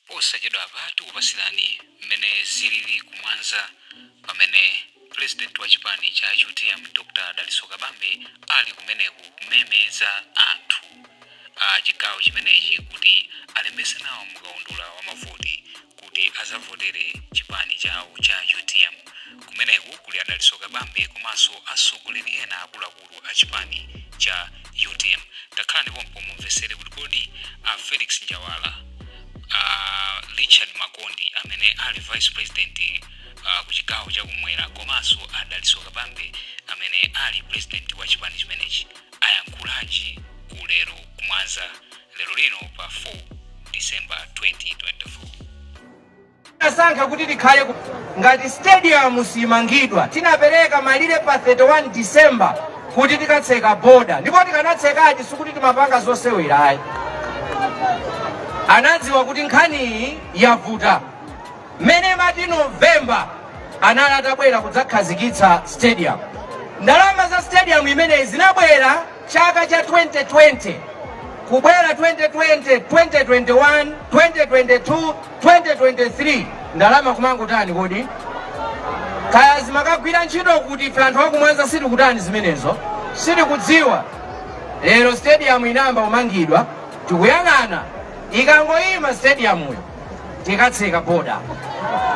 Posachedwapa tikupasilani mmene zilili ku Mwanza pamene President wa chipani cha utm Dr Dalitso Kabambe ali kumeneko kumemeza anthu a chigawo chimenechi kuti alembetse nawo mu kaundula wa mavoti kuti azavotere chipani chawo cha utm. Kumeneko kuli a Dalitso Kabambe komanso atsogoleri ena akuluakulu. akuluakulu a chipani cha utm. Takhalani pompo mumvesere kuti kodi a Felix Njawala, a Richard Makondi amene ali vice president uh, ku chigawo chakumwera komanso a Dalitso Kabambe amene ali president wa chipani chimenechi ayankhulanji ku lero ku Mwanza lero lino pa 4 December 2024. tinasankha kuti tikhale ku- ngati stadium simangidwa tinapereka malire pa 31 december kuti tikatseka boda ndipo tikanatsekadi sikuti timapanga zosewera ayi anadziwa kuti nkhaniyi yavuta mmene imati novemba anali atabwera kudzakhazikitsa stadium ndalama za stadium imeneyi zinabwera chaka cha 2020 kubwera 2020 2021 2022 2023 ndalama kumangotani kodi kaya zimakagwira ntchito kuti ife anthu aku Mwanza sitikutani zimenezo sitikudziwa lero stadium inayamba kumangidwa tikuyang'ana ikangoyima stadiumuyo tikatseka boda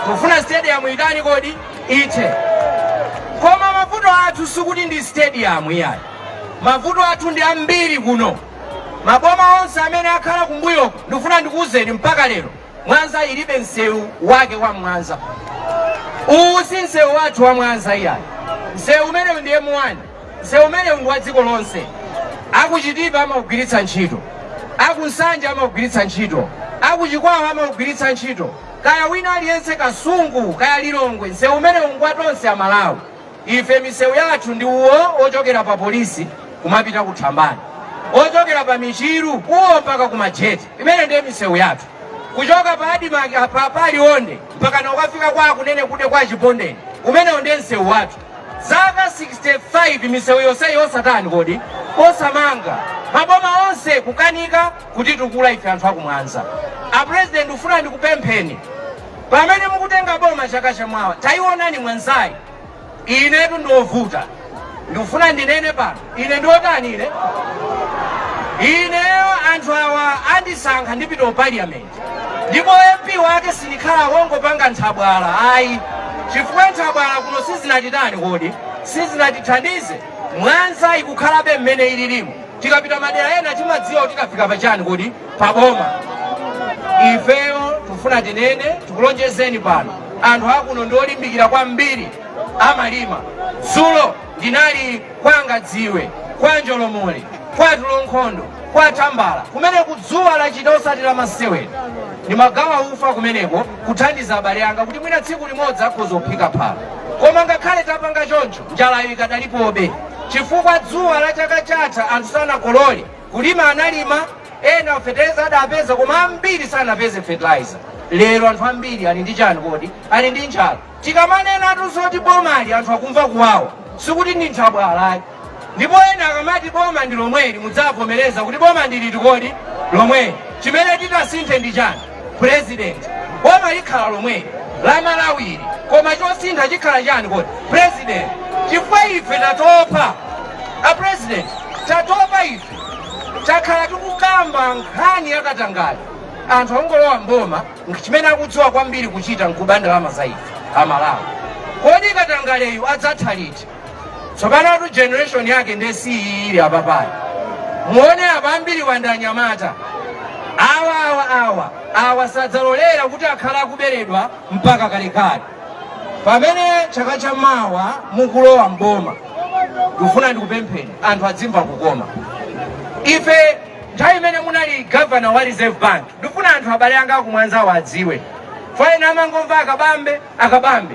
tikufuna stadium itani kodi ithe koma mavuto athu sikuti ndi stadium iyayi mavuto athu ndi ambiri kuno Maboma onse amene akhala kumbuyoku ndikufuna ndikuwuzeni mpaka lero Mwanza ilibe msewu wake wa Mwanza. Uwu si msewu wathu wa Mwanza iyayi. Msewu umenewu ndi M1. Msewu umenewu ndi wa dziko lonse. Aku Chitipa amaugwiritsa ntchito. Aku Nsanje amaugwiritsa ntchito. Aku Chikwawa amaugwiritsa ntchito. Kaya wina aliyense Kasungu, kaya Lilongwe, msewu umenewu ngwatonse a Malawi. ife misewu yathu ndi uwo ochokera pa polisi kumapita ku thambani ochokera pa michiru uwo mpaka ku Majete imeneyo ndiye misewu yathu kuchoka pa admarc apa pa Liwonde mpaka na kukafika kwa a Kunenekude kwa chipondeni umenewu ndiye msewu wathu zaka 65 misewu yonseyi osatani kodi osamanga maboma onse kukanika kutitukula ife anthu aku Mwanza a president ndikufuna ndikupempheni pamene mukutenga boma chaka chamawa taionani mwanzayi inetu ndiovuta ndikufuna ndinene pano ine ndiotani ine ineyo anthu awa andisankha ndipita ku parliament ndipo mp wake sindikhala wongopanga nthabwala ayi chifukwa nthabwala kuno sizinatitani kodi sizinatithandize mwanza ikukhalabe mmene ililimu tikapita madera ena timadziwa kuti tafika pachani kodi paboma ifeyo tikufuna tinene tikulonjezeni pano anthu akuno ndi olimbikira kwambiri amalima dzulo ndinali kwa ngadziwe kwa njolomole kwa tulonkhondo kwa tambala kumene kudzuwa lachita osati la masewera ndimagawa ufa kumeneko kuthandiza abale anga kuti mwina tsiku limodzi akhoza kuphika phala koma ngakhale tapanga choncho njalayo ikadalipobe chifukwa dzuwa la chaka chatha anthu sanakolole kulima analima ena feteleza adapeza koma ambiri sanapeze fertilizer lero anthu ambiri ali ndi chani kodi ali ndi njala tikamanenatu zoti bomali anthu akumva kuwawa sikuti ndi nthabwalatu ndipo ena akamati boma ndi lomweli mudzavomereza kuti boma ndi liti kodi lomweli chimene titasinthe ndi chani president boma likhala lomweli la malawili koma chosintha chikhala chani kodi president chifukwa ife tatopa a president tatopa ife takhala tikukamba nkhani yakatangale anthu akungolowa mboma chimene akudziwa kwambiri kuchita nkuba ndalama za ife amalawi kodi katangaleyu adzatha liti tsopanotu generation yake ndiye iyi ili apapayi muone apa ambiri awa ndi anyamata awa awa awa awa sadzalolera kuti akhala akuberedwa mpaka kalekale pamene chaka cha mawa mukulowa mboma ndikufuna ndikupempheni anthu adzimva kukoma ife nthawi imene munali gavana wa reserve bank ndikufuna anthu abale anga akumwanzawo adziwe chifukwa ena amangomva akabambe akabambe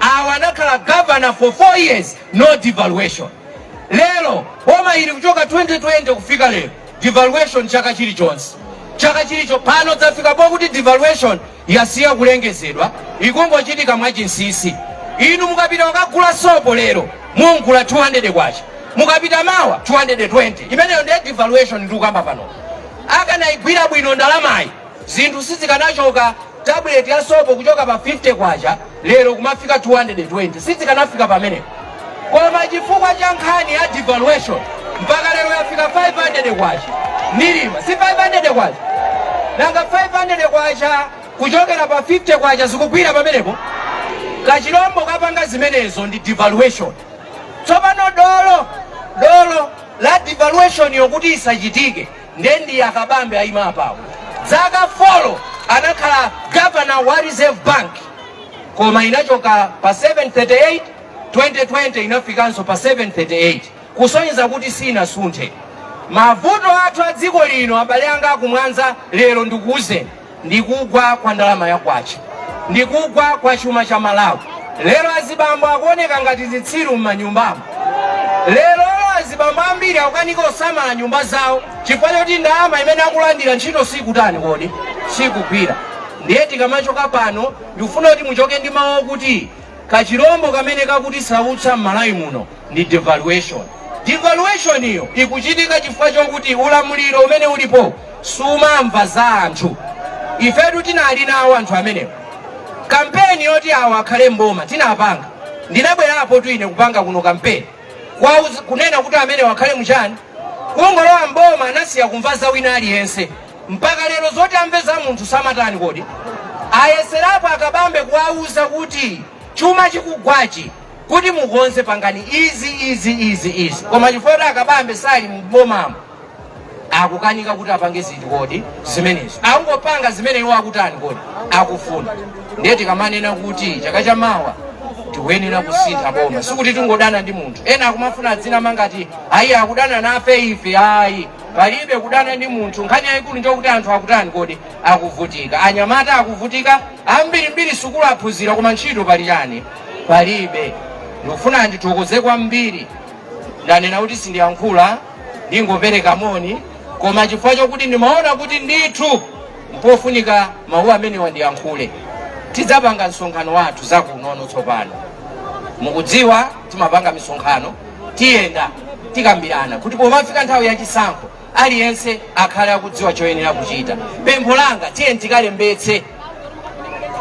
awa anakhala governor for four years no devaluation lero boma ili kuchoka 2020 kufika lero devaluation chaka chilichonse chaka chilichonse pano zafika pokuti devaluation yasiya kulengezedwa ikungochitika mwachinsisi inu mukapita kukagula sopo lero mungula 200 kwacha mukapita mawa 220 imeneyo ndi devaluation ndikukamba pano akanayigwira bwino ndalamayi Zinthu sizikanachoka, tabuleti ya sopo kuchoka pa K50 lero kumafika K220, sizikanafika pamenepo. Koma chifukwa cha nkhani ya devaluation mpaka lero yafika K500 kulima, si K500? Nanga K500 kuchokera pa K50 zikugwira pamenepo? Kachilombo kapanga zimenezo ndi devaluation. Tsopano dolo dolo la devaluation yokuti isachitike nde ndi akabambe ayima apawo dzaka folo anakhala gavana wa reserve bank koma inachoka pa 738 2020 inafikanso pa 738 kusonyeza kuti sinasunthe mavuto athu a dziko lino abale anga akumwanza lero ndikuwuzeni ndi kugwa kwa ndalama ya kwacha ndi kugwa kwa chuma cha Malawi. Lero azibambo akuoneka ngati zitsiru m'manyumbamo. Lero azibambo ambiri akukanika kusamala nyumba zawo chifukwa choti ndalama imene akulandira ntchito siikutani kodi siikugwira. Ndiye tikamachoka pano ndikufuna kuti muchoke ndi mawu okuti kachilombo kamene kakutisautsa m'Malawi muno ndi devaluation devaluation iyo ikuchitika chifukwa chokuti ulamuliro umene ulipo sumamva za anthu ifetu tinali nawo anthu amenewo kampeni yoti awo akhale mboma tinapanga ndinabwerapo tu ine kupanga kuno kampeni kunena kuti amenewa akhale mchani kungolowa mboma anasiya kumva za wina aliyense mpaka lero zoti amve za munthu samatani kodi ayeserapo a Kabambe kuwauza kuti chuma chikugwachi kuti mukonze pangani izi izi izi izi koma chifukwa choti a Kabambe sali mbomamo akukanika kuti apange zinthu kodi zimenezo akungopanga zimene iwo akutani kodi akufuna ndiye tikamanena kuti chaka cha mawa tikuyenera kusintha boma sikuti tingodana ndi munthu ena akumafuna azinama ngati ayi akudana nafe ife ayi palibe kudana ndi munthu nkhani yayikulu njokuti anthu akutani kodi akuvutika anyamata akuvutika ambirimbiri sukulu aphunzira koma ntchito pali chani palibe. Ndikufuna ndithokoze kwambiri, ndanena kuti sindiyankhula ndingopereka moni, koma chifukwa chokuti ndimaona kuti ndithu mpofunika mawu amenewa ndiyankhule. Tidzapanga msonkhano wathu zakuno kuno tsopano, mukudziwa timapanga misonkhano tiyenda tikambirana kuti pomafika nthawi ya chisankho Aliyense akhale akudziwa choyenera kuchita. Pempho langa, tiyeni tikalembetse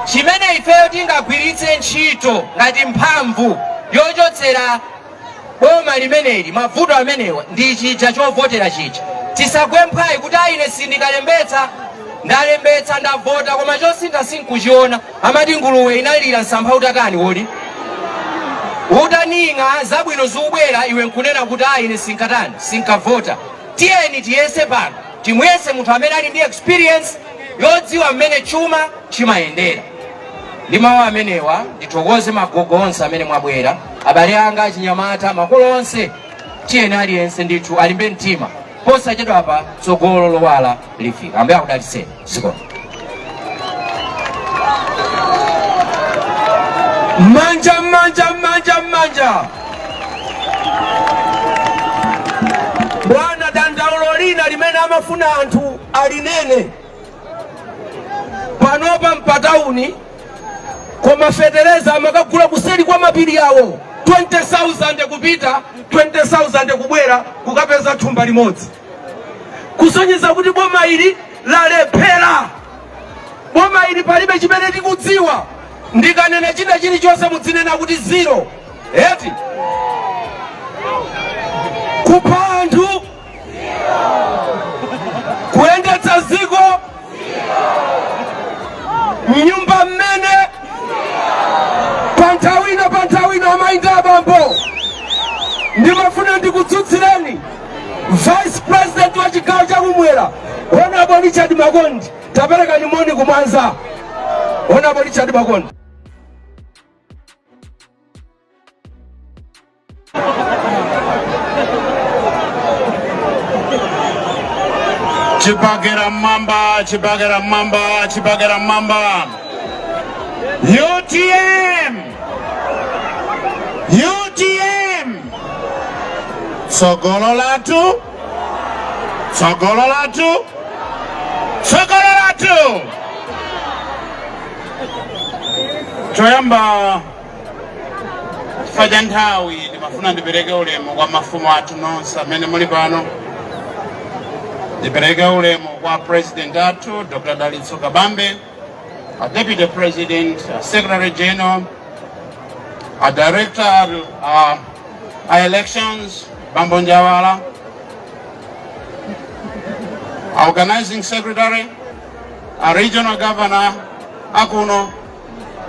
chimene ifeyo tingagwiritse ntchito ngati mphamvu yochotsera boma limeneli mavuto amenewa ndi chija chovotera chija. Tisagwe mphwayi kuti ayi ine sindikalembetsa, ndalembetsa ndavota koma chosintha sinkuchiona. amati nguluwe inalira msampha utatani kodi utaning'a zabwino zikubwera iwe nkunena kuti ayi ine sinkatani sinkavota tiyeni tiyese pano timuyese munthu amene ali ndi experience yodziwa mmene chuma chimayendera ndi mawu amenewa ndithokoze agogo onse amene mwabwera abale anga achinyamata makolo onse tiyeni aliyense ndithu alimbe mtima posachedwa pa tsogolo lowala lifika Ambuye akudalitseni zikomo manja manja manja manja bwana dandaulo lina limene amafuna anthu alinene panopa mpatauni koma fetereza amakagula kuseri kwa mapiri awo 20000 kupita 20000 kubwera kukapeza thumba limodzi kusonyeza kuti boma ili lalephera boma ili palibe chimene tikudziwa ndikanena china chilichonse mudzinena kuti zero eti kupha anthu kuyendetsa ziko mnyumba mmene panthawi ina panthawi ina amayi ndi abambo ndimafuna ndikutsutsirani Vice President wa chigawo cha kumwera Honorable Richard Makondi tapereka nimoni kumwanza Honorable Richard Makondi Chibagera mamba, chibagera mamba, chibagera mamba. UTM! utm tsogolo lathu tsogolo lathu tsogolo lathu choyamba chifukwa cha nthawi ndimafuna ndipereke ulemu kwa mafumu athu nonse amene muli pano ndipereke ulemu kwa president athu dr dalitso kabambe A Deputy President, a Secretary General, a Director uh, a Elections, Bambo Njawala, a Organizing Secretary, a Regional Governor, akuno,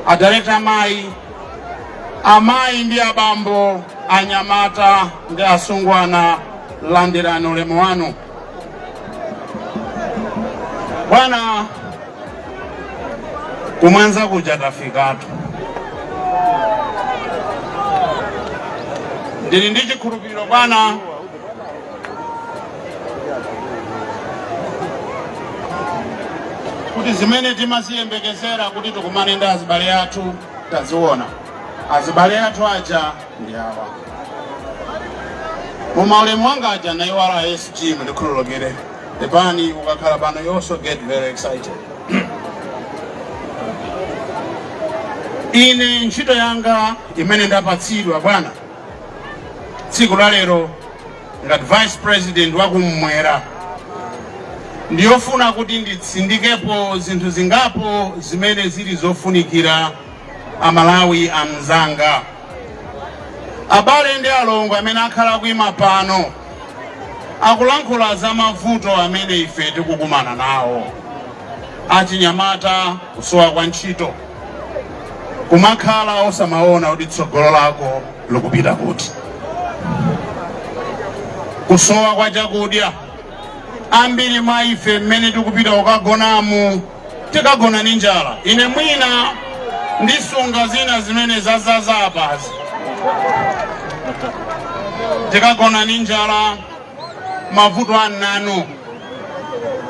a Director Amayi, amayi ndi abambo anyamata ndi asungwana landirani ulemu wanu Bwana ku Mwanza kuja tafikatu ndili ndi chikhulupiriro bwana kuti zimene timaziyembekezera kuti tikumane ndi azibale athu taziona azibale athu aja ndi awa mumaulemu wanga aja ndaiwala sg mundikhululukire epani ukakhala pano you also get very excited ine ntchito yanga imene ndapatsidwa bwana tsiku la lero ngati vice president wakum'mwera ndiyofuna kuti nditsindikepo zinthu zingapo zimene zili zofunikira amalawi amzanga abale ndi alongo amene akhala akuima pano akulankhula za mavuto amene ife tikukumana nawo achinyamata kusowa kwa ntchito kumakhala osamaona kuti tsogolo lako likupita kuti kusowa kwa chakudya ambiri mwa ife mmene tikupita kukagonamu tikagona ni njala ine mwina ndisunga zina zimene zazaza apazi tikagona ni njala mavuto ananu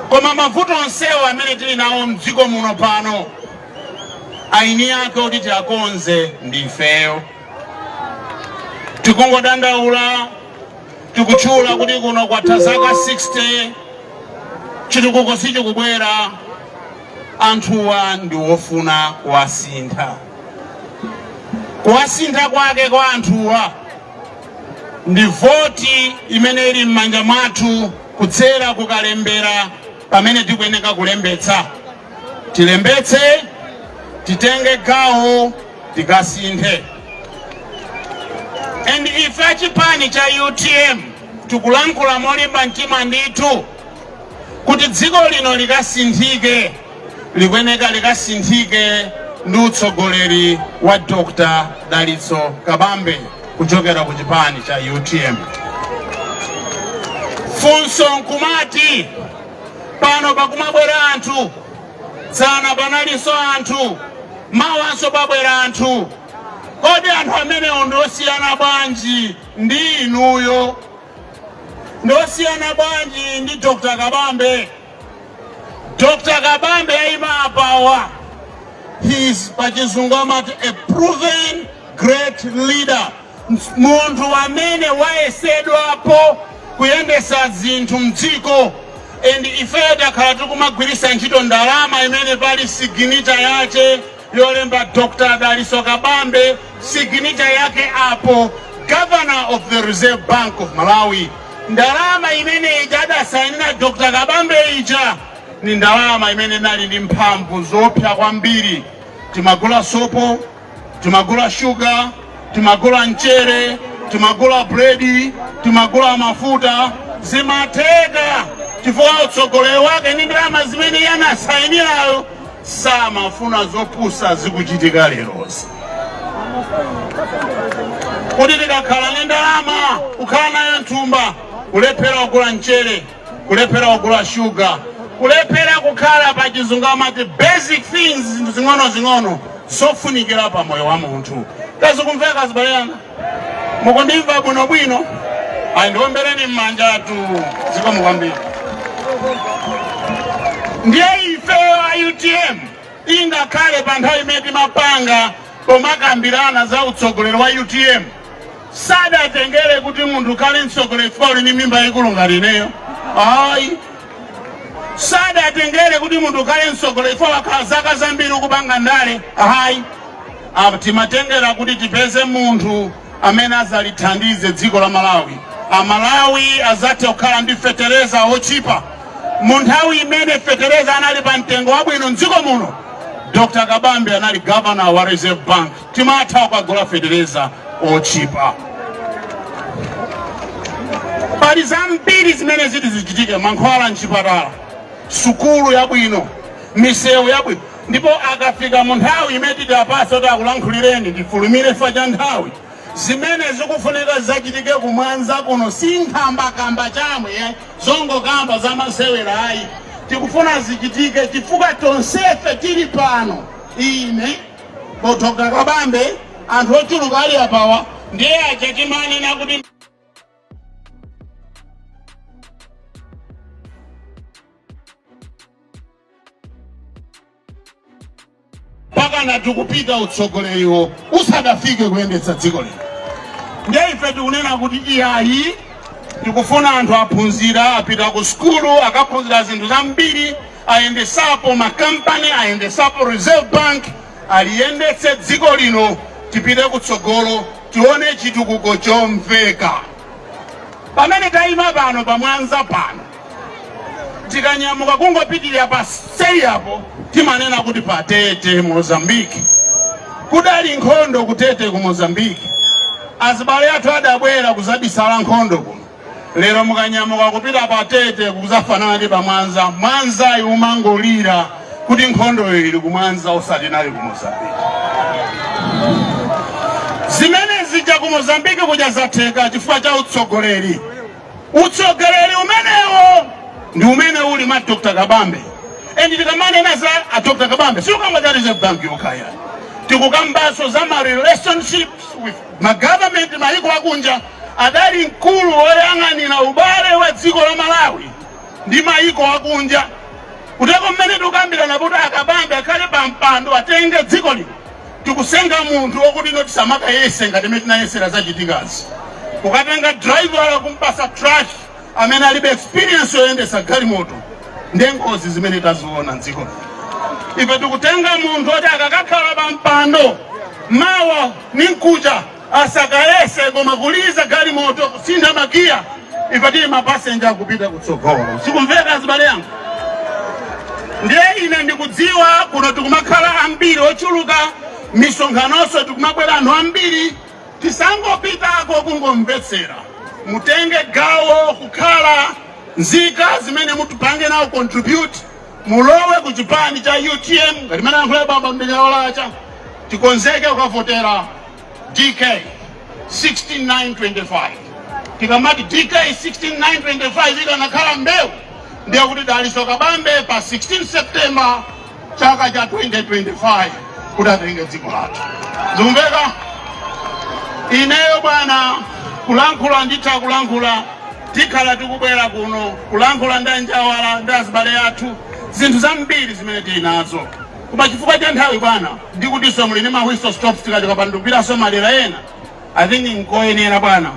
koma mavuto onsewo amene tili nawo mdziko muno pano aeni ake oti tiakonze ndifeyo tikungodandaula tikutchula kuti kuno kwatha zaka 60 chitukuko sichikubwera anthuwa ndi wofuna kuwasintha kuwasintha kwake kwa anthuwa ndi voti imene ili m'manja mwathu kudzera kukalembera pamene tikuyeneka kulembetsa tilembetse titenge gawo tikasinthe and ife achipani cha utm tikulankhula molimba mtima ndithu kuti dziko lino likasinthike likuyeneka likasinthike ndi utsogoleri wa dr dalitso kabambe kuchokera ku chipani cha utm funso nkumati pano pakumabwera anthu dzana panaliso anthu mawanso pabwera anthu kodi anthu amenewo ndiosiyana bwanji ndi inuyo ndiosiyana bwanji ndi dr kabambe dr kabambe ayima apawa he is pachizungu amati a proven great leader munthu amene wayesedwapo kuyendesa zinthu mdziko and ifeyo takhala tikumagwirisa ntchito ndalama imene pali siginita yake yolemba dr daliso kabambe siginita yake apo governor of the reserve bank of malawi ndalama imene ija adasainira dr kabambe ija ndi ndalama imene inali ndi mphamvu zoopsa kwambiri timagula sopo timagula shuga timagula mchere timagula buledi timagula mafuta zimatheka chifukwa utsogoleri wake ndi ndalama zimene iye anasainirayo samafuna zopusa zikuchitika lerozi kuti tikakhala ndi ndalama kukhala nayo nthumba kulephera kugula mchere kulephera kugula shuga kulephera kukhala pa chizungu amati basic things zinthu zing'onozing'ono zofunikira pa moyo wa munthu zikumveka abale anga mukundimva bwinobwino a ndiombereni m'manjatu zikomo kwambiri ndiye ife a utm ingakhale pa nthawi imene timapanga pomakambirana za utsogoleri wa utm sadatengere kuti munthu ukhale mtsogoleri chifukwa uli ndi mimba yayikulu ngati ineyo ayi sadatengere kuti munthu ukhale mtsogoleri chifukwa wakhala zaka zambiri ukupanga ndale ayi timatengera kuti tipeze munthu amene azalithandize dziko la malawi amalawi azathe kukhala ndi fetereza ochipa mu nthawi imene fetereza anali pa mtengo wabwino mdziko muno dr kabambe anali governor wa reserve bank timatha kukagula fetereza otchipa pali zambiri zimene ziti zichitike mankhwala mchipatala sukulu yabwino misewu yabwino ndipo akafika mu nthawi imene titi apase kuti akulankhulireni ndifulumire fa cha nthawi zimene zikufunika zachitike kumwanza kuno si nkhambakamba chamwe eh, zongokamba za masewera ayi tikufuna zichitike chifukwa tonsefe tili pano ine Dr kabambe anthu ochuluka ali apawa ndiye aja timanena kuti pakana tikupita utsogoleriwo usadafike kuyendetsa dziko lino ndiye ife tikunena kuti iyayi tikufuna anthu aphunzira apita ku sukulu akaphunzira zinthu zambiri ayendesapo ma company ayendesapo reserve bank aliyendetse dziko lino tipite kutsogolo tione chitukuko chomveka pamene tayima pano pa mwanza pano tikanyamuka kungopitirira paseri apo timanena kuti pa tete mozambiki kudali nkhondo kutete ku mozambiki azibale athu adabwera kuzabisala nkhondo kuno lero mukanyamuka kupita pa tete kuzafanana ndi pamwanza mwanzayi umangolira kuti nkhondoyo ili kumwanza osati inali ku mozambiki zimene zija ku mozambiki kuja zatheka chifukwa cha utsogoleri utsogoleri umenewo ndi umene uli mwa dr kabambe endi tikamanena za a dr kabambe sitikukamba za reserve bank yokha ayi tikukambaso za ma relationships with ma government mayiko akunja Adali mkulu woyang'anira ubale wa dziko la Malawi ndi maiko akunja. Kuteko mmene tikukambirana kuti a Kabambe akhale pa mpando atenge dziko lino, tikutenga munthu okuti no tisamakayese ngati mmene tinayesera zachitikazi. Kukatenga driver kumpasa trash amene alibe experience yoyendesa galimoto ndiye ngozi zimene taziona mdziko lino. Ife tikutenga munthu oti akakakhala pa mpando mawa ni mkucha asakayese koma kuliza galimoto kusintha magiya ife tili mapasenja kupita kutsogolo sikumveka azibale yangu ndiye ine ndikudziwa kuno tikumakhala ambiri ochuluka misonkhanoso tikumabwera anthu ambiri tisangopitako kungomvetsera mutenge gawo kukhala nzika zimene mutipange nawo contribute mulowe ku chipani cha utm ngati mmene ayankhula baba mdekera olacha tikonzeke kukavotera dk 16925 tikamati dk 16925 ikanakhala mbewu ndiye kuti dalitso kabambe pa 16 september chaka cha 2025 kuti atenge dziko lathu zikumveka ineyo bwana kulankhula nditha kulankhula Tikhala tikubwera kuno kulankhula ndi anjawala ndi azibale athu zinthu zambiri zimene tili nazo, koma chifukwa cha nthawi bwana, ndi kutinso muli ndi ma whistle stops, tikachoka pano tikupitanso madera ena, I think nkoyenera bwana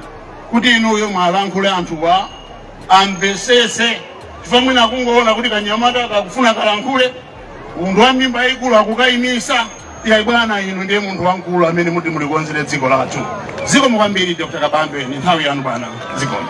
kuti inuyo mwalankhule anthuwa amvetsetse, chifukwa mwina akungoona kuti kanyamata kakufuna kalankhule munthu wa mimba yayikulu akukayimisa iyayi bwana inu ndiye munthu wamkulu amene muti mulikonzere dziko lathu zikomo kwambiri dr kabambe ni nthawi yanu bwana zikomo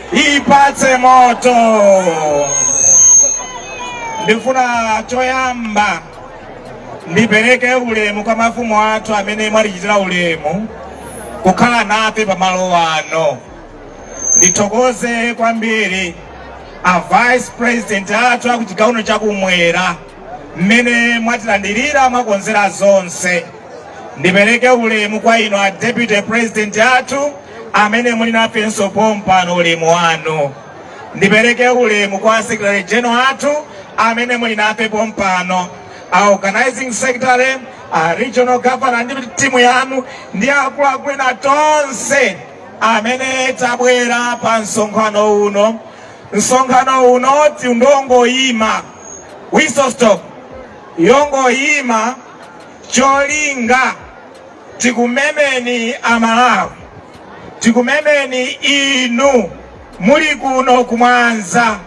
ipatse moto ndifuna choyamba ndipereke ulemu kwa mafumu athu amene mwatichitira ulemu kukhala nafe pamalo ano ndithokoze kwambiri a vice president athu akuchigawo chakumwera mmene mwatilandirira mwakonzera zonse ndipereke ulemu kwa inu a deputy president athu amene muli nafenso pompano ulemu wanu ndipereke ulemu kwa secretary general athu amene muli nafe pompano a organizing secretary a regional governor ndi timu yanu ndi akuluakulu ena tonse amene tabwera pa msonkhano uno msonkhano uno tidangoyima whistle stop yongoyima cholinga tikumemeni amalawi tikumemeni inu muli kuno kumwanza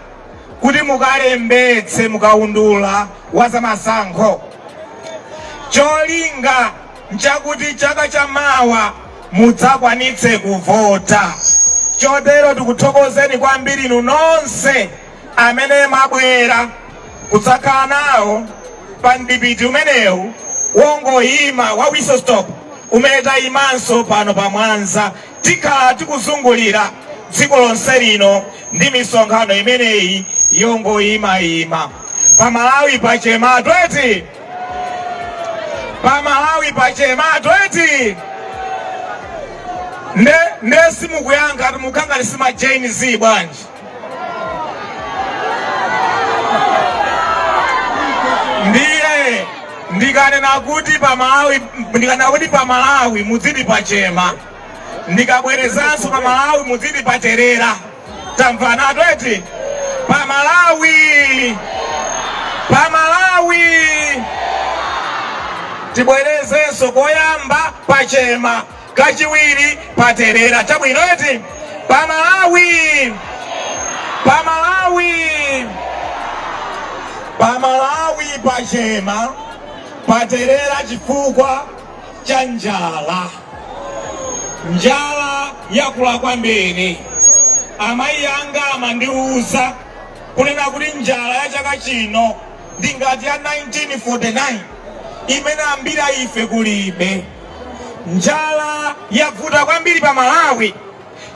kuti mukalembetse mukaundula wa zamasankho cholinga nchakuti chaka cha mawa mudzakwanitse kuvota chotero tikuthokozeni kwambiri inu nonse amene mwabwera kudzakhala nawo pa mdipiti umenewu wongoyima wa whistle stop umene tayimanso pano pa mwanza tikhala tikuzungulira dziko lonse lino ndi misonkhano imeneyi yongoyimayima pa malawi pachema eti pa malawi pachema eti nde nde simukuyankha simunadye nsima jane z bwanji ndiye ndikanena kuti pamalawi ndikanena kuti pamalawi mudziti pachema ndikabwerezanso pamalawi mudziti paterera tamvana eti pamalawi pamalawi tibwerezenso koyamba pachema kachiwiri paterera chabwino eti pa malawi pa malawi pa malawi pachema paterera chifukwa cha njala njala yakula kwambiri amayi anga amandiuza kunena kuti njala ya chaka chino ndi ngati ya 1949 imene ambiri a ife kulibe Njala yavuta kwambiri pa Malawi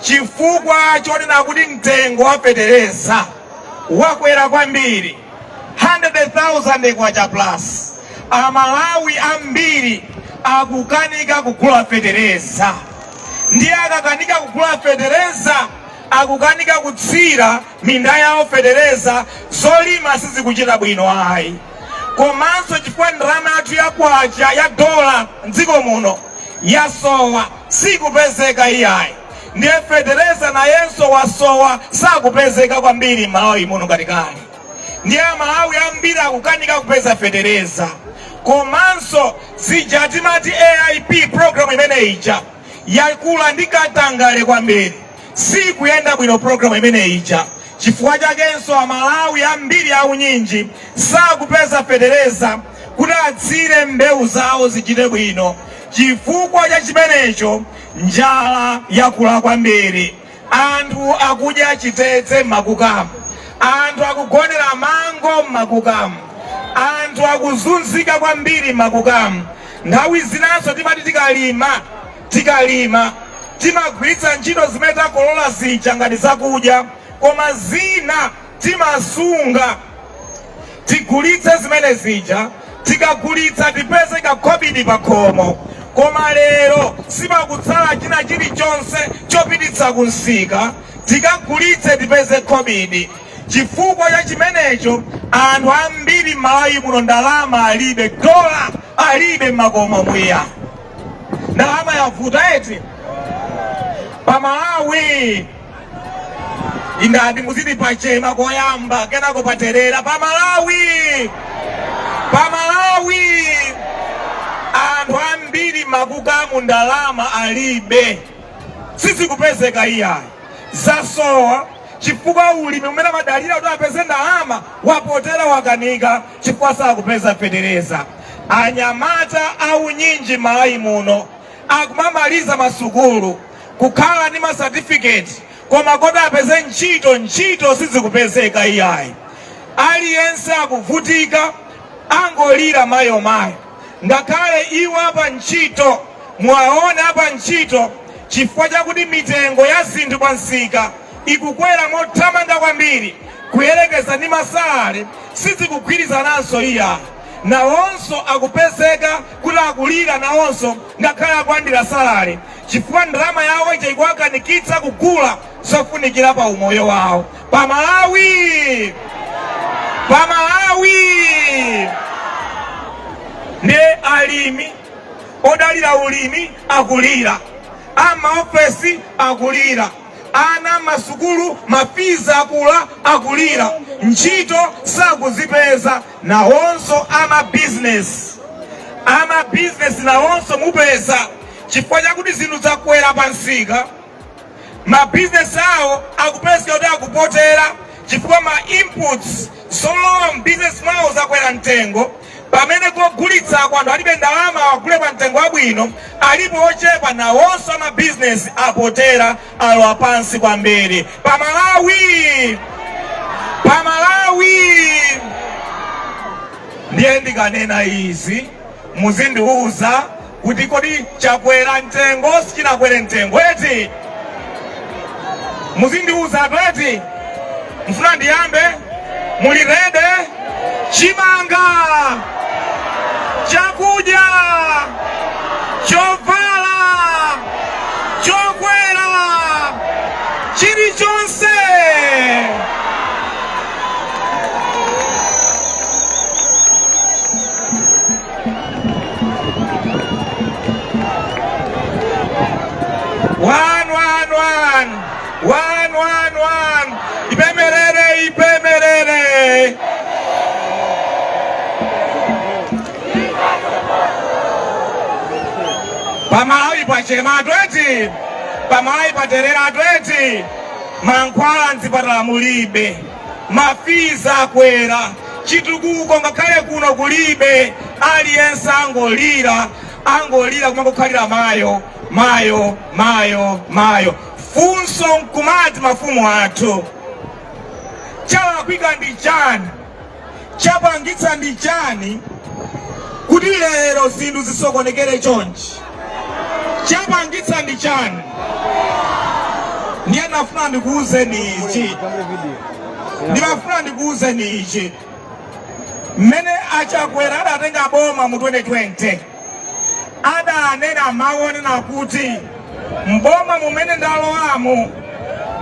chifukwa chonena kuti mtengo wa fetereza wakwera kwambiri 100,000 kwacha plus. Amalawi ambiri akukanika kugula fetereza, ndiye akakanika kugula fetereza akukanika kutsira minda yawo fetereza zolima sizikuchita bwino ayi komanso chifukwa ndalama yathu ya kwacha ya dola mdziko muno yasowa sikupezeka iyayi ndiye fetereza nayenso wasowa sakupezeka kwambiri malawi muno ngati kale ndiye amalawi ambiri akukanika kupeza fetereza komanso zija timati aip program imene ija yakula ndi katangale kwambiri siikuyenda bwino programu imene ija chifukwa chakenso amalawi ambiri aunyinji sakupeza fetereza kuti atsire mbewu zawo zichite bwino chifukwa cha chimenecho njala yakula kwambiri anthu akudya chitedze m'makukamu anthu akugonera mango m'makukamu anthu akuzunzika kwambiri m'makukamu nthawi zinanso timati tikalima Tikalima timagwiritsa ntchito zimene takolola zija ngati zakudya koma zina timasunga tigulitse zimene zija tikagulitsa tipeze kakhobidi pakhomo koma lero sipakutsala china chilichonse chopititsa ku msika tikagulitse tipeze khobidi chifukwa cha chimenecho anthu ambiri m'malawi muno ndalama alibe dola alibe m'makomomu iya ndalama yavuta eti pa malawi ndati muziti pachema koyamba kenako paterera pa malawi pa malawi anthu ambiri m'makukamu ndalama alibe sizikupezeka iyayi zasowa chifukwa ulimi umene amadalira kuti apeze ndalama wapotera wakanika chifukwa sakupeza fetereza. Anyamata aunyinji m'Malawi muno akumamaliza masukulu kukhala ndi masatifiketi koma kodi apeze ntchito? Ntchito sizikupezeka iyayi, aliyense akuvutika, akungolira mayo mayo. Ngakhale iwo apa ntchito muwaone apa ntchito chifukwa chakuti mitengo ya zinthu pa msika ikukwera mothamanga kwambiri kuyerekeza ndi masalale sizikugwirizananso iya nawonso akupezeka kuti akulira nawonso ngakhale akulandira salale chifukwa ndalama yawo ija ikuwakanikitsa kugula zofunikira pa umoyo wawo pa malawi pa malawi nde alimi odalira ulimi akulira amaofesi akulira Ana m'masukulu ma fees akwera akulira, ntchito sakuzipeza, nawonso a ma business a ma business nawonso mupeza chifukwa chakuti zinthu zakwera pa msika, ma business awo akupezeka kuti akupotera chifukwa ma inputs zolowa m'bizinesi mwawo zakwera mtengo pamene kogulitsako anthu alibe ndalama awagule pamtengo wabwino alipo ochepa nawonso amabizinesi apotera alowa pansi kwambiri pa malawi pa malawi ndiye ndikanena izi muzindiuza kuti kodi chakwera mtengo sichinakwere mtengo eti muzindiuzatu eti mfuna ndiyambe muli rede chimanga chakudya chovala chokwera chilichonse One, one, one. One, one, one. Ipemerere, ipemerere. Pamalawi pachema atweti. Pamalawi paterera atweti. Mankhwala mzipatala mulibe. ma fees akwera, chitukuko ngakhale kuno kulibe, aliyense angolira angolira kumangokhalira mayo mayo mayo mayo. Funso nkumati mafumu athu chalakwika ndi chani? Chapangitsa ndi chani kuti lero zinthu zisokonekere chonchi? Chapangitsa ndi chani? Ndiye ndimafuna ndikuwuzeni ichi, ndimafuna ndikuwuzeni ichi, mmene a Chakwera adatenga boma mu 2020 adanena mawu wonena kuti mboma mumene ndalowamu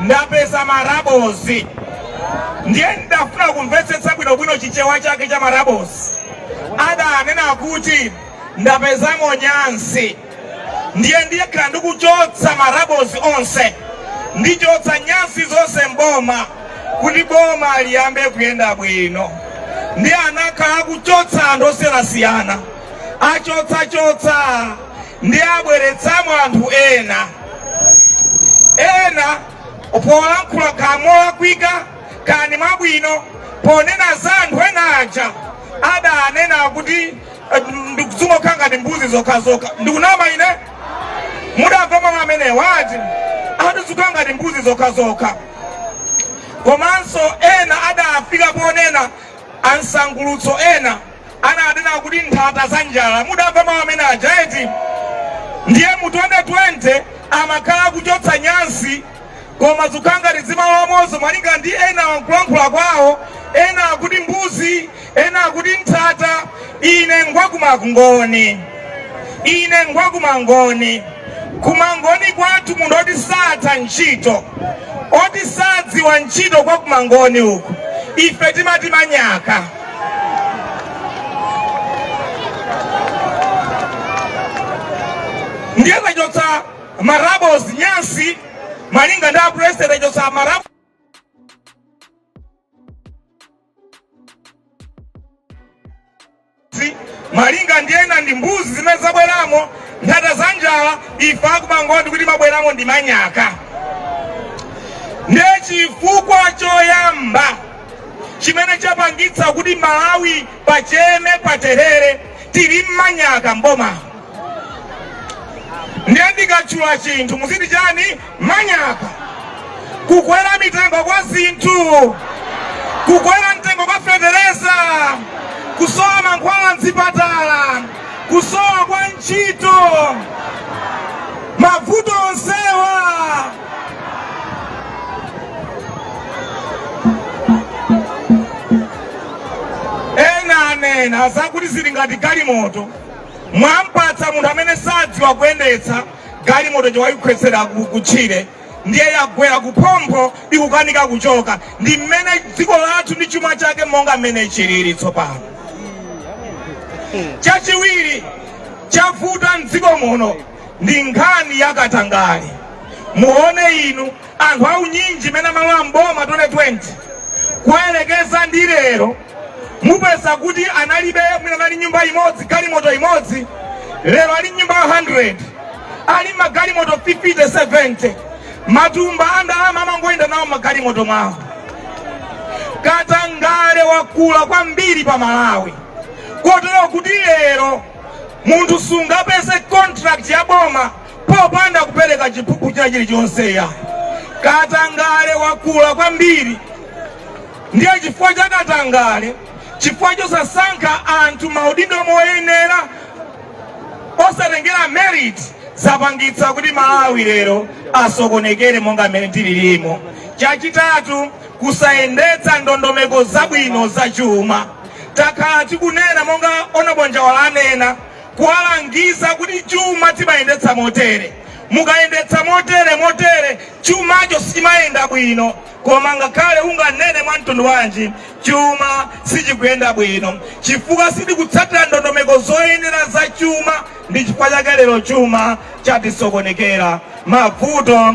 ndapeza marabozi ndiye ndidafuna kumvetsetsa bwinobwino chichewa chake cha marabozi adanena kuti ndapezamo nyansi ndiye ndikhala ndikuchotsa marabozi onse ndichotsa nyansi zonse mboma kuti boma liyambe kuyenda bwino ndiye anakhala akuchotsa anthu osiyanasiyana achotsachotsa ndiye abweretsamo anthu ena ena polankhula kaya molakwika kani mwabwino ponena za anthu ena aja adanena kuti eh, zikungokhala ngati mbuzi zokhazokha ndikunama ine mudamva mawu amenewa eti akuti zikukhala ngati mbuzi zokhazokha komanso ena adafika ponena ansangulutso ena ananena kuti nthata za njala mudamva mawu amene aja eti ndiye mu 2020 amakhala akuchotsa nyansi koma zikukhala ngati zimalowamonso malinga ndi ena mwa nkulankhula kwawo ena akuti mbuzi ena akuti nthata ine ngwakumangoni ine ngwakumangoni kumangoni kwathu munthu woti satha ntchito woti sadziwa ntchito kwa kumangoni uku ife timati manyaka ndiye kuchotsa marabozi nyansi malinga ndi apresident kuchotsa marabozi malinga ndi ena ndi mbuzi zimene zabweramo nthata za njala ife akumangoni tikuti mwabweramo ndi manyaka ndiye chifukwa choyamba chimene chapangitsa kuti malawi paterere paterere ndi manyaka mboma ndiye ndikatchula chinthu muziti chani manyaka kukwera mitengo kwa zinthu kukwera mtengo kwa fetereza kusowa mankhwala mzipatala kusowa kwa ntchito mavuto onsewa ena anena zakuti zili ngati galimoto mwampatsa munthu amene sadziwa kuyendetsa galimoto n'kuwaikhwetsera ku- kutchire ndiye yagwera kuphompho ikukanika kuchoka ndi mmene dziko lathu ndi chuma chake monga mmene chilili tsopano chachiwiri chavuta mdziko muno ndi nkhani ya katangale muone inu anthu aunyinji mene amalowa mboma 2020 kuyerekeza ndi lero mupeza kuti analibe mwina anali ndi nyumba imodzi galimoto imodzi lero ali ndi nyumba 100 ali magalimoto 50 70 matumba andalama amangoyenda nawo magalimoto mwawo katangale wakula kwambiri pa malawi kotero kuti lero munthu sungapeze contract ya boma popanda kupereka chiphuphu china chilichonse ya katangale wakula kwambiri ndiye chifukwa cha katangale chifukwa chosasankha anthu maudindo moyenera osatengera merit zapangitsa kuti malawi lero asokonekere monga mmene tililimo chachitatu kusayendetsa ndondomeko zabwino za chuma Takhala tikunena monga Hon. Njawala anena, kuwalangiza kuti chuma timayendetsa motere, mukayendetsa motere, motere, chumacho sichimayenda bwino. Koma ngakhale unganene mwa mtundu wanji, chuma sichikuyenda bwino chifukwa sakutsatira ndondomeko zoyenera za chuma. Ndi chifukwa chake lero chuma chatisokonekera. Mavuto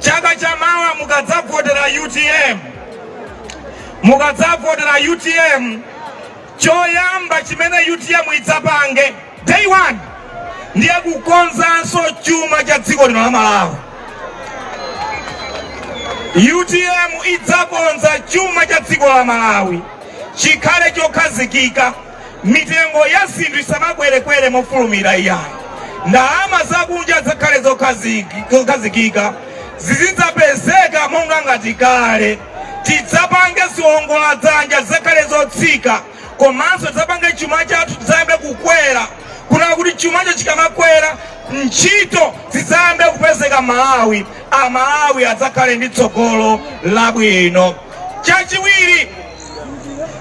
Chaka cha mawa mukadzavotera utm, mukadzavotera utm, choyamba chimene utm idzapange day one ndiye kukonzanso chuma cha dziko lino la Malawi. utm idzakonza chuma cha dziko la Malawi chikhale chokhazikika. mitengo ya zinthu isamakwerekwere mofulumira iyayi ndalama zakunja zidzakhale zokhazikika zizidzapezeka monga ngati kale tidzapange ziwongola dzanja zidzakhale zotsika komanso tidzapange chuma chathu chidzayambe kukwera kunena kuti chumacho chikamakwera ntchito zidzayambe kupezeka malawi amalawi adzakhale ndi tsogolo labwino chachiwiri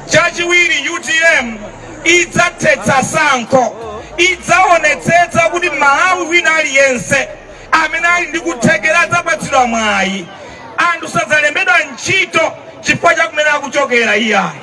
chachiwiri utm idzathetsa sankho idzaonetsetsa kuti malawi wina aliyense amene ali ndi kuthekera adzapatsidwa mwayi anthu sadzalembedwa ntchito chifukwa cha kumene akuchokera iyayi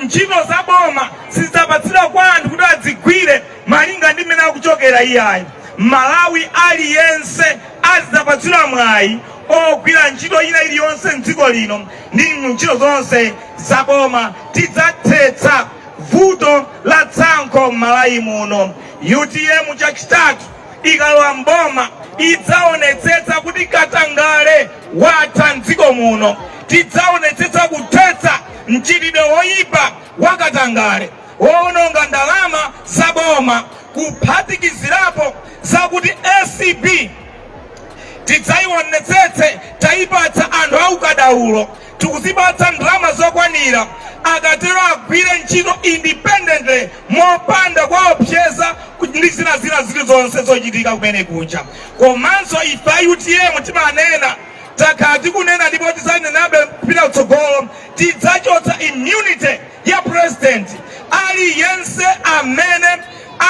ntchito za boma sizidzapatsidwa kwa anthu kuti adzigwire malinga ndi mmene akuchokera iyayi malawi aliyense azidzapatsidwa mwayi ogwira ntchito ina iliyonse mdziko lino ndi ntchito zonse za boma tidzathetsa vuto la tsankho m'malawi muno utm chachitatu ikalowa mboma idzaonetsetsa kuti katangale watha mdziko muno tidzaonetsetsa kuthetsa mchitidwe woyipa wa katangale woononga ndalama za boma kuphatikizirapo zakuti acb tidzaiwonetsetse taipatsa anthu aukadaulo tikuzipatsa ndalama zokwanira akatero agwire ntchito independently mopanda kuwaopseza ndi zina zilizonse zochitika kumene kuja komanso ife a utm timanena takhala tikunena ndipo tidzanenabe kupita kutsogolo tidzachotsa immunity ya purezidenti aliyense amene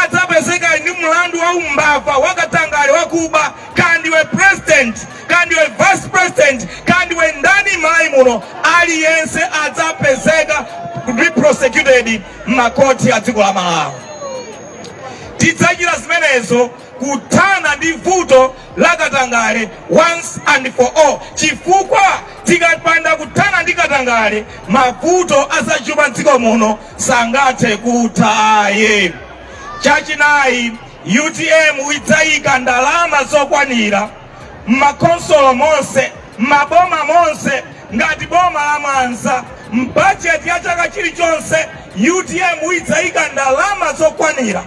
adzapezeka ndi mlandu wa umbava wakatangale wakuba kaya ndiwe president kaya ndiwe vice president kaya ndiwe ndani m'malawi muno aliyense adzapezeka ali prosecuted m'makoti a dziko la malawi tidzachita zimenezo kuthana ndi vuto la katangale once and for all chifukwa tikapanda kuthana ndi katangale mavuto azachuma mdziko muno sangathe kutha ayi chachinayi utm idzayika ndalama zokwanira m'makonsolo monse m'maboma monse ngati boma la mwanza mbajeti ya chaka chilichonse utm idzayika ndalama zokwanira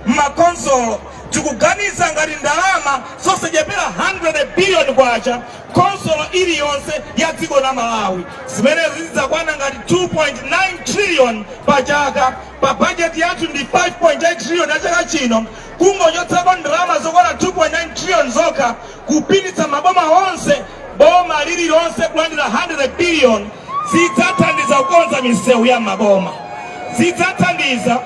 M'makhonsolo tikuganiza ngati ndalama zosachepera 100 billion kwacha khonsolo iliyonse ya dziko la Malawi. Zimenezi zidzakwana ngati 2.9 trillion pa chaka. Pa bajeti yathu ndi 5.8 trillion ya chaka chino, kungochotsako ndalama zokwana 2.9 trillion zokha, kupititsa m'maboma onse boma lililonse kulandira 100 billion zidzathandiza kukonza misewu ya m'maboma zidzathandiza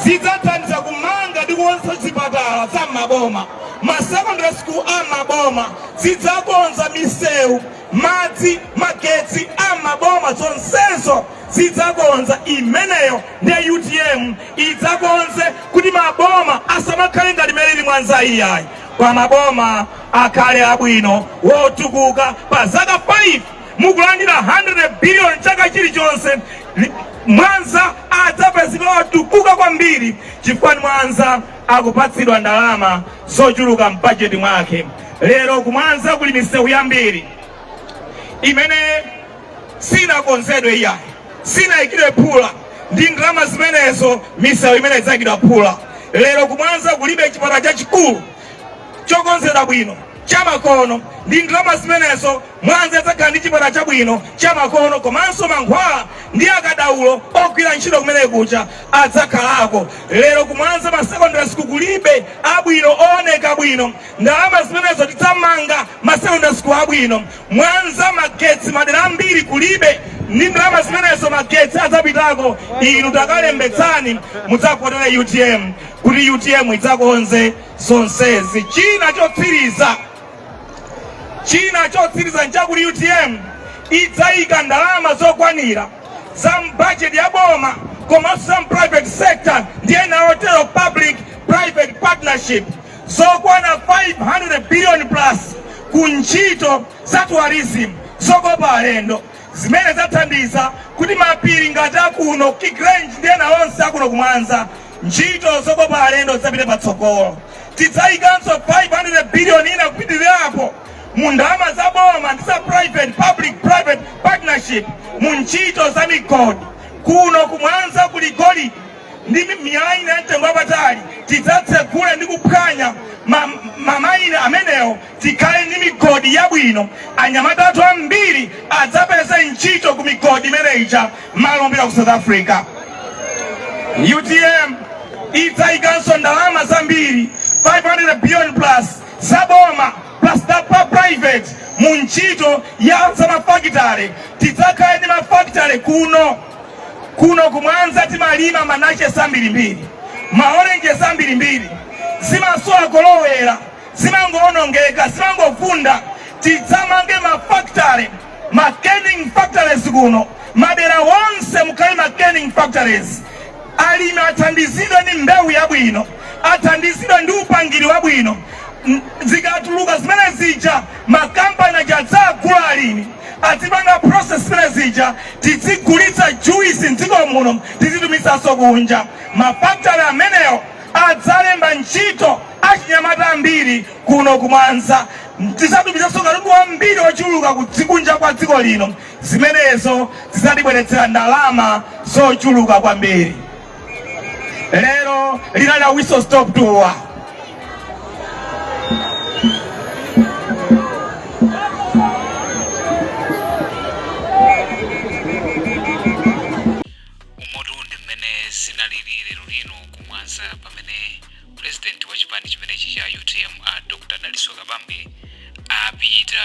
zidzathandiza kumanga ndi kukonza zipatala za m'maboma ma secondary school a maboma zidzakonza misewu madzi magetsi a m'maboma zonsezo zidzakonza imeneyo ndi utm idzakonze kuti maboma asamakhale ngati mmene ilili mwanza iyayi kwa maboma akhale abwino wotukuka pa zaka 5 mukulandira 100 biliyoni chaka chilichonse Mwanza adzapezeka wotukuka kwambiri chifukwa mwanza akupatsidwa ndalama zochuluka m'bajeti mwake lero kumwanza kuli misewu yambiri imene sinakonzedwe iyayi sinaikidwe phula ndi ndalama zimenezo misewu imene idzaikidwa phula lero kumwanza kulibe chipatala chachikulu chokonzedwa bwino chamakono ndi ndalama zimenezo mwanza idzakhala ndi chipatala chabwino chamakono komanso mankhwala ndi akadaulo ogwira ntchito kumenekuja adzakhalako lero kumwanza ma secondary school kulibe abwino ooneka bwino ndalama zimenezo tidzamanga ma secondary school abwino Mwanza magetsi madera ambiri kulibe ndi ndalama zimenezo magetsi adzapitako inu takalembetsani mudzavotera utm kuti utm idzakonze zonsezi china chotsiriza china chotsiriza nchakuti utm idzayika ndalama zokwanira za mbajeti ya boma komanso za private sector ndi ena otero public private partnership zokwana 500 biliyoni plus ku ntchito za tourism zokopa alendo zimene zidzathandiza kuti mapiri ngati akuno Kigrange ndi ena onse akuno kumwanza ntchito zokopa alendo zidzapite patsogolo tidzayikanso 500 biliyoni ina kupitirirapo mu ndalama za boma ndi za private public private partnership mu ntchito za migodi kuno kumwanza kuli golidi ndi mi- miyala ina ya mtengo wapatali tidzatsegula ndi kuphwanya ma mine amenewo tikhale ndi migodi yabwino anyamata athu ambiri adzapeza ntchito ku migodi imeneyija mmalo mopita ku south africa utm idzayikanso ndalama zambiri 500 billion plus zaboma plus za pa private mu ntchito ya zamafakitale tidzakhale ndi mafakitale kuno kuno kumwanza timalima manachesi ambirimbiri maorenjesi ambirimbiri zimasowa kolowera zimangowonongeka zimangovunda tidzamange mafactory ma canning factories kuno madera wonse mukhale ma canning factories alimi athandizidwe ndi mbewu yabwino athandizidwe ndi upangiri wabwino zikatuluka zimenezija makampani aja adzagula alimi adzipanga process zimenezija tidzigulitsa juice mdziko muno tizitumizaso kunja ma factory ameneo adzalemba ntchito achinyamata ambiri kuno ku mwanza tizatumizaso katundu wambiri ochuluka kudzikunja kwa dziko lino zimenezo zizatibweretsera ndalama zochuluka kwambiri lero linali la whistle stop tour umotu ndi mmene zinalili lero lino kumwanza pamene purezidenti wa chipani chimenechi cha utm dr dalitso kabambe apita